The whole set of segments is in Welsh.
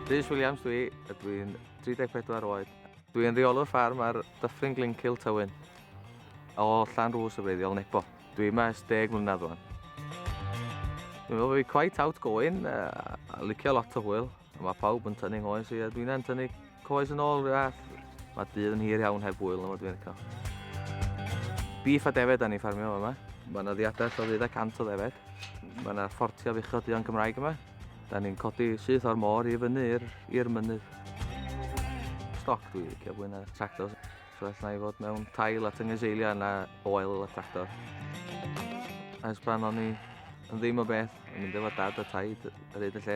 Rhys Williams dwi, a dwi'n 34 oed. Dwi'n reolwr ffarm ar Dyffryn Glencyl Tywyn, o Llan Rhws y Breiddiol, Nebo. Dwi yma ers deg mlynedd rwan. Dwi'n meddwl bod fi quite outgoing, a licio lot o hwyl. Mae pawb yn tynnu hoes, ie. Dwi'n yn tynnu coes yn ôl, ie. Mae dydd yn hir iawn heb wyl, yma dwi'n eco. Beef a defed da ni ffarmio yma. Mae yna ddiadell o ddeudau cant o ddefed. Mae yna ffortio fuchod duon Cymraeg yma. Da ni'n codi syth o'r môr i fyny i'r mynydd. Stoc dwi'n licio fwy na tractor. So all na i fod mewn tail a tyngys eiliau na oel a tractor. Ers pan o'n i yn ddim o beth, yn mynd efo dad a taid ar hyd y lle.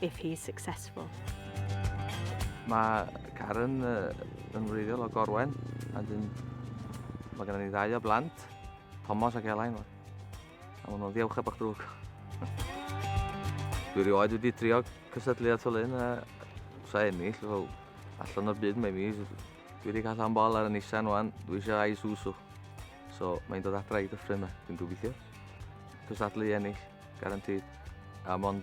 if he's successful. Mae Karen yn wreiddiol o Gorwen, a dyn mae gennym ni ddau o blant, Thomas ac Elain. A maen nhw'n ddiawcheb o'ch drwg. Dwi rioed wedi trio cysylltu at o lyn a sa ennill, fel allan o'r byd mae mi. Dwi wedi cael am bol ar y Nissan wan, dwi eisiau ai Susu. So mae'n dod adra i dyffryn yma, dwi'n gobeithio. Cysadlu ennill, garantid. A mond